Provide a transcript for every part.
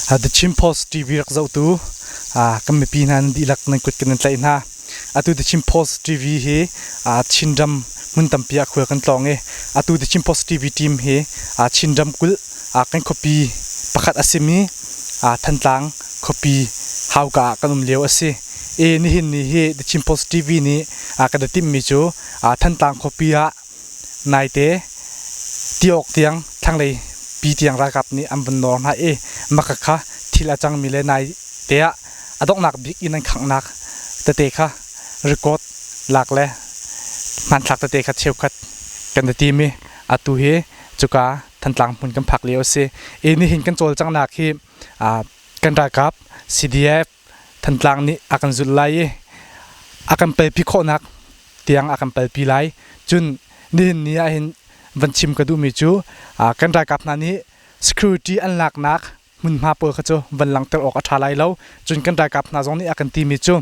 The Chin Post TV rak zohtu kan mipi hna nan dihlak nan kut kan in tlaih hna. Atu The Chin Post TV hi aa Chinram hmun tampi ah khual kan tlawng i atu The Chin Post TV team hi aa Chinram kulh aa kan khuapi pakhat a simi aa Thantlang khuapi hauka ah kan um lio a si. E nihin ni hi The Chin Post TV nih aa kan i timhmi cu aa Thantlang khuapi ah Naite tiawk tiang thlanglei pi tiang ralkap nih an vun nawr hna i maka kha thil a cangmi le naite ah a donghnak bik inn an khanghnak tete kha rikawt lak le hmanthlak tete kha cheukhat kan i tim i atu hi cuka Thantlang hmun kan phak lio a si. I nihin kan cawlcanghnak hi kan ralkap CDF Thantlang nih a kan zulh lai i a kan pelpi khawhnak tiang a kan pelpi lai. Cun nihin ni ah hin van chim ka duhmi cu kan ralkap hna nih security an laknak hmunhma pawl kha cu van langhter awk a ṭha lai lo. Cun kan ralkap hna zong nih a kan timi cu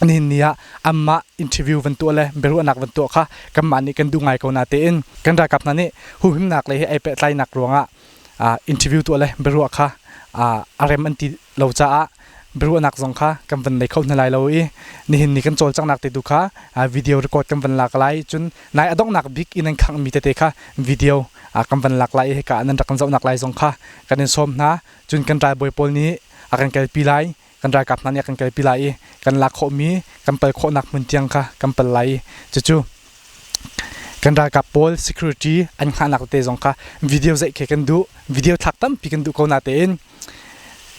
nihin ni ah anmah interview van tuah le biaruahnak van tuah kha kanmah nih kan duh ngai ko na tein kan ralkap hna nih huhimnak lei he ai pehtlainak ruangah interview tuah le biaruah kha a rem an ti lo caah biaruahnak zong kha kan van nei kho hna lai lo i nihin ni kan cawlcanghnak te tu kha video record kan van lak lai cun nai a donghnak bik in an khangh mi tete kha video kan van lak lai i hika nan rak kan zohnak lai zong kha kan in sawm hna cun kan ralbawi pawl nih a kan kalpi lai kan ralkap hna nih kan kalpi lai i kan lak khawhmi kan pal khawhnak hmun tiang kha kan pal lai i cucu kan ralkap pawl security an hngahnak te zong kha video zeih khi kan duh video thlak tampi kan duh ko na tein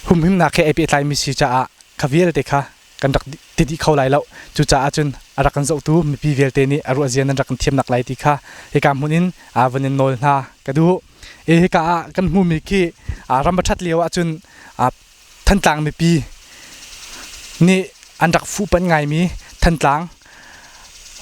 humhimnak he ai pehtlaimi si caah kha vialte kha kan rak ti dih kho lai lo cucaah cun a rak kan zohtu mipi vialte nih a ruah zian an rak kan thiamnak lai ti kha hika hmun in a van in nawl hna ka duh e hika ah kan hmumi khi ram a ṭhat lio ahcun Thantlang mipi nih an rak fuhpanh ngaimi Thantlang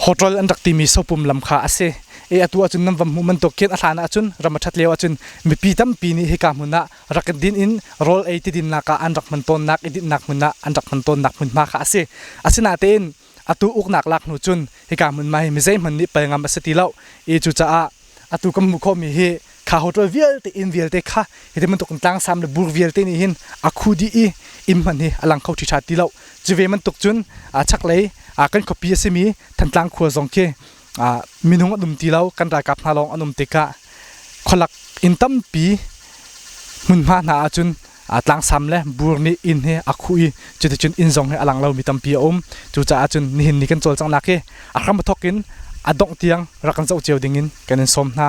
hotel an rak timi sopum lam kha a si. E atu ahcun nan va hmuh bantuk khin a hlan ahcun ram a ṭhat lio ahcun mipi tampi nih hika hmun ah rak in din in rawl ei tidinnak ah an rak hman tawnnak i dinhnak hmun ah an rak hman tawnnak hmunhma kha a si. Asinatein atu uknak lak hnu cun hika hmun mai mi zeihmanh nih pal ngam a si ti lo i cucaah atu kan hmuh khawhmi hi kha hotel vialte inn vialte kha hi ti bantuk in tlangsam le bur vialte nih hin a khu dih i inn hman hi a lang kho ṭhitha ti lo cu ve bantuk cun a chaklei kan khuapi a simi Thantlang khua zong khi Ah, minung an um ti lo kan ralkap hna lawng an um tikah khualak inn tampi hmunhma hna ahcun ah, tlangsam le bur nih inn hi a khuh i cuticun inn zong hi a lang lomi tampi a um cucaah cun nihin ni kan cawlcanghnak hi a hram thawk in a dongh tiang rak kan zoh cio ding in kan in sawm hna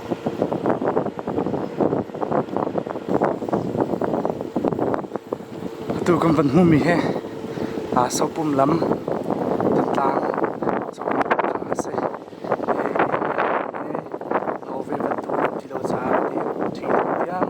Atu kan van hmuhmi hi Sopum lam Thantlang cawn a si. Hove bantuk ram ti lo caah ti ṭhi tiang.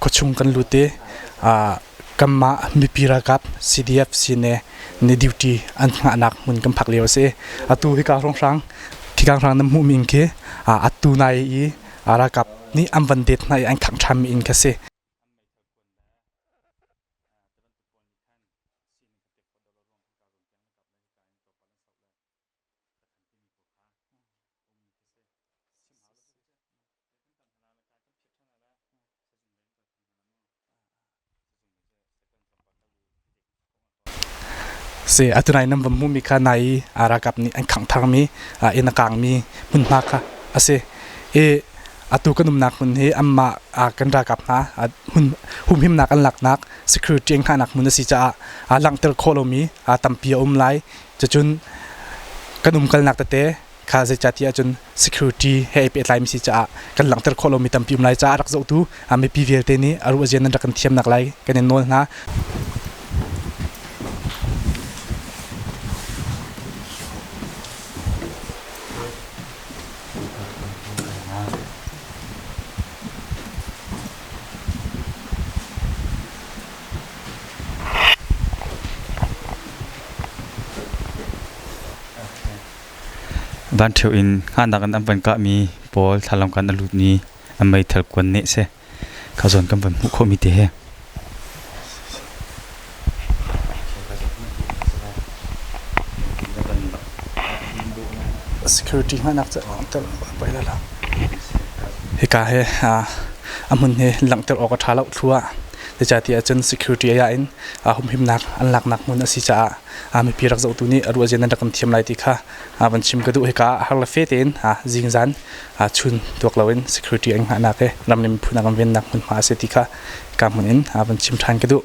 khuachung kan lut i kanmah mipi ralkap CDF sine ne duty an ngahnak hmun kan phak lio a si atu hika hrawnghrang thikanghrang nan hmuhmi khi atu nai i ralkap nih an van det hna i an khangh ṭhammi in kha si ka kan timi pawl kha ummi khi si sim hau lo si kan tam hna la ka kan phiat ṭhan la sazung lei ka kan hna mu sazung lei je second tlawmpal ka lu hi dek kong ton si atunai nam vammu mi kha nai arakap ni an khang thar mi a in akang mi mun hna kha asi e atu kan umnak mun hi amma kan rakap nga mun humhim nak an lak nak security ang ha nak mun asi cha a langter kho lo mi tampi um lai Cucun kan umkalnak tete kha zeicah ti ahcun security he ai pehtlaimi si caah kan langhter khawh lomi tampi um lai caah rak zohtu mipi vialte nih a ruah zian nan rak kan thiamnak lai kan in nawl hna. Van ṭheo in hngahnak in an van kahmi pawl thlalang kan a lut i an meithal kuan neh seh kha zawn kan van hmuh khawhmi te hi. Security hngahnak cu langhter bai la la. Hika he a hmun he langhter awk a ṭha lo thlu ah Zeicahti ahcun security ai ah in humhimnak an laknak hmun a si caah mipi rak zohtu nih a ruahzia nan rak kan thiam lai ti kha van chim ka duh hika ah har le fe tein zingzan chun tuak loin security an hngahnak he ram le miphun a kan vennak hmunhma a si ti kha ka hmun in van chim ṭhan ka duh.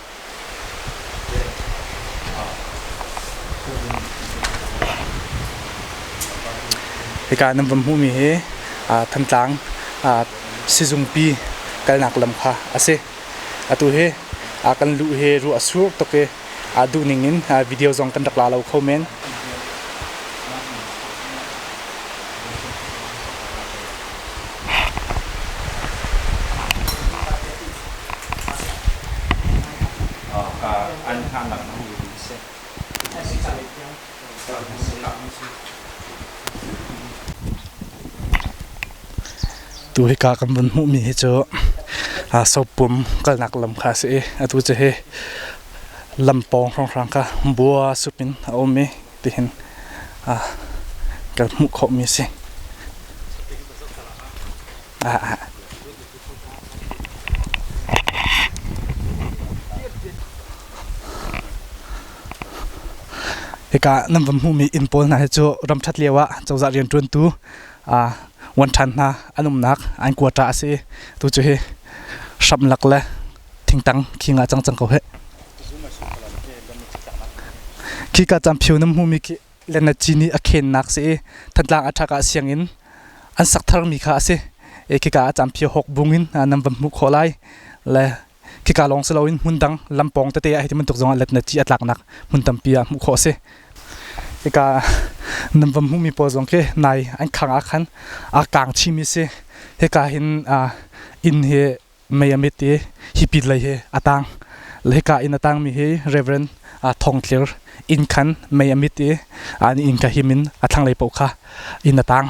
Hika nan van hmuhmi hi Thantlang sizungpi kalnak lam kha a si. Atu hi kan luh hi ruah a sur tuk i duh ning in video zong kan rak la lo kho men. Tu hika kan vun hmuhmi hi cu sopum kalnak lam kha a si i atu cu hi lam pawng hrawnghrang kha bua sup in a um i. tihin kan hmuh khawhmi a si. Ika nan van hmuhmi inn pawl hna hi cu ramṭhat lio ah cozah rianṭuantu wan ṭhan hna an umnak an kuata a si. Tu cu hi hramlak le thingtang khi nga cang cang ko he khi ka cam phio nam hmumi khi lenna ci nih a khennak si i thantlang athak ah siang in an sak thar mi kha asi e khi ka cam phio hok bung in nam van hmu kho lai le khika lawng si loin hmun dang lampong tete ah hiti muntuk zongah letna ci atlaknak hmun tampi ah hmuh kho si ika nam vam hmu mi paw zong ke nai an khang a khan a kang chi mi si heka hin in hi mei a mit i hi pit lei hi a tang. Le hika in a tangmi hi Reverend uh, Thawng Tlir inn khan mei a mit i uh, inn ka him in a thlanglei paoh kha in a tang.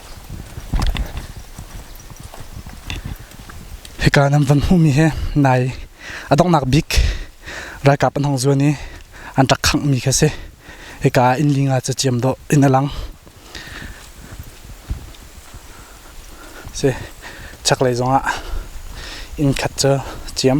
Hika nan van hmuhmi hi nai a donghnak bik ralkap an hong zuan i an rak khanghmi kha si. Hika inn linga cu ciam dawh in a lang. Si chaklei zongah inn khat cu ciam.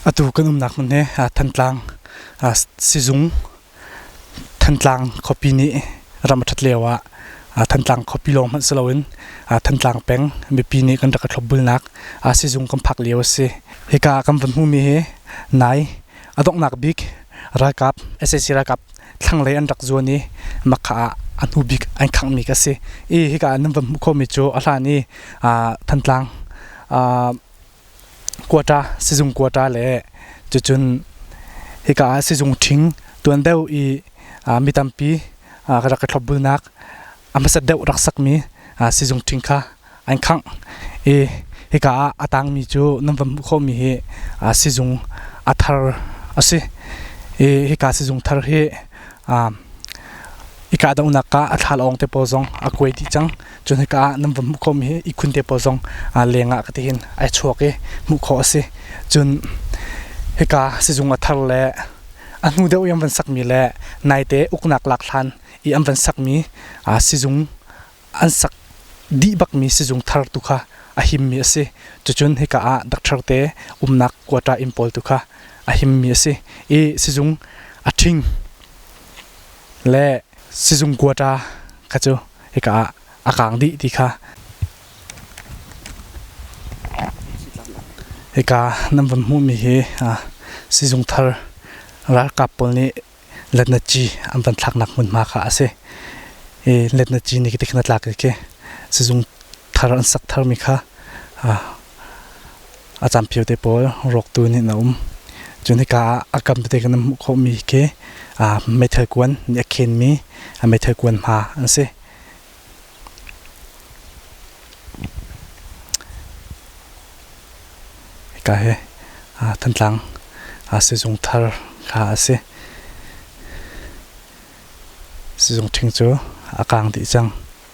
Atu kan umnak hmun hi Thantlang sizung Thantlang khuapi nih ram a ṭhat lio ah Thantlang khuapi lawng hmanh si loin Thantlang peng mipi nih kan rak i thlopbulnak sizung kan phak lio a si. Hika ah kan vun hmumi hi nai a donghnak bik ralkap sac ralkap thlanglei an rak zuan i Makha ah a hnu bik an khanghmi ka si. I hika ah nan vun hmuh khawhmi cu a hlan i Thantlang Kuata, sizung kuata le cucun hika ah sizung ṭhing tuan deuh i mi tampi ka rak i thlopbulnak a hmasat deuh rak sakmi sizung ṭhing kha an khangh i hika ah a tangmi cu nan van hmuh khawhmi hi sizung a thar a si i hika sizung thar hi i kahdohnak ah a thla lawng te pawl zong a kuai dih cang. Cun hika ah nan va hmuh khawhmi hi ihkhun te pawl zong leng ah katihin ai chuak i hmuh khawh a si. Cun hika sizung a thar le a hnu deuh i an van sakmi le naite uknak lak hlan i an van sakmi sizung an sak dih bakmi sizung thar tu kha a himmi a si. Cucun hika ah doctor te umnak quarter inn pawl tu kha a himmi a si i sizung a ṭhing le sizung quarter kha cu Hika ah a kaang dih ti kha hika nan van hmuhmi hi sizung thar ralkap pawl nih letnaci an van thlaknak hmunhma kha a si i letnaci nih tikhin a tlak i sizung thar an sak tharmi kha a campio te pawl rawktu nih an um. Cun hika ah a kam tete kan hmuh khawhmi khi ah meithal kuan nih a khenmi a meithal kuan hma an si. Hika hi ah Thantlang ah sizung thar kha a si. Sizung ṭhing cu a kaang dih cang.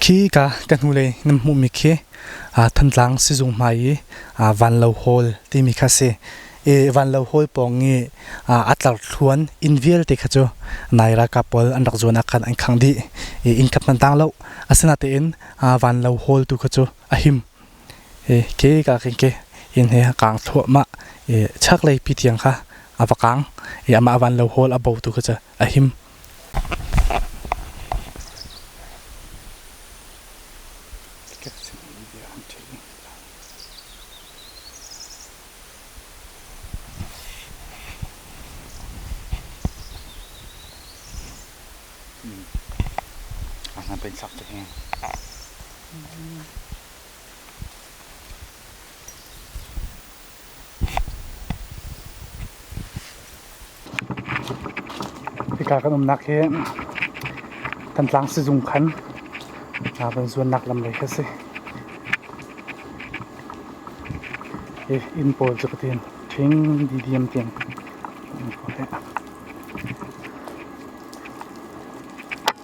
Khika ka hnulei nan hmuhmi khi Thantlang sizung hmai i Vanlo Hall timi kha a si. Vanlo Hall pawng i a tlarthluan inn vialte kha cu nai ralkap pawl an rak zuan ah khan an khangh dih. Inn khat hmanh tang lo. Asinatein Vanlo Hall tu kha cu a him. Ke ka kan ke inn hi a kaang thluahmah i chaklei pi tiang kha a va kaang i amah van lo hawl a bo tu kha cu a him. Hika kan umnak hi Thantlang sizung khan zuannak lam lei khi a si. Inn pawl cu fatin ṭhing didiam tiang an hmuh hlah.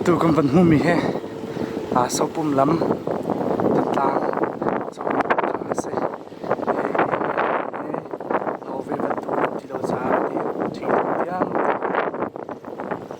Atu kan van hmumi hi Sopum lam Thantlang cauk a si. Hove bantuk ti lo caah ti thing tiang.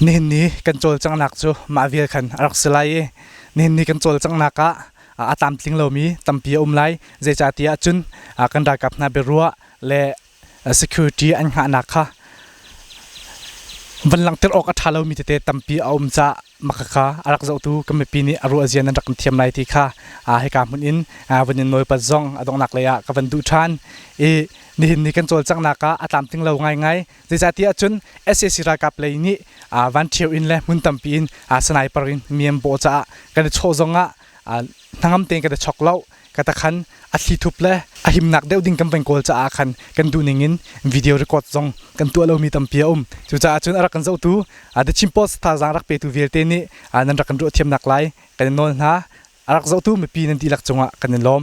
Nihin ni kan cawlcanghnak cu mah vial khan a rak si lai i nihin ni kan cawlcanghnak ah a tlamtling lomi tampi a um lai. Zeicahtiah cun kan ralkap hna biaruah le security an hngahnak kha van langhter awk a ṭha lomi tete tampi a um caah makaka a rak zohtu kan mipi nih a ruah zian an rak kan thiam lai ti kha hika hmun in van in nawipat zong a donghnak lei ah ka van duh ṭhan i nihin ni kan cawlcanghnak ah a tlamtling lo ngaingai zeicahtiah cun SAC ralkap lei nih van ṭhio in le hmun tampi in sanaipar in mi an bawh caah kan i chawh zong ah hnangam tein ka ta chok lo ka ta khan a thli thup le a himnak deuh ding kan peng kawl caah khan kan duh ning in video record zong kan tuah lomi tampi a um cucaah cun a rak kan zohtu a the chin post thazaang rak petu vialte nih nan rak kan ruah thiamnak lai kan in nawl hna a rak zohtu mipi nan dihlak cungah kan in lawm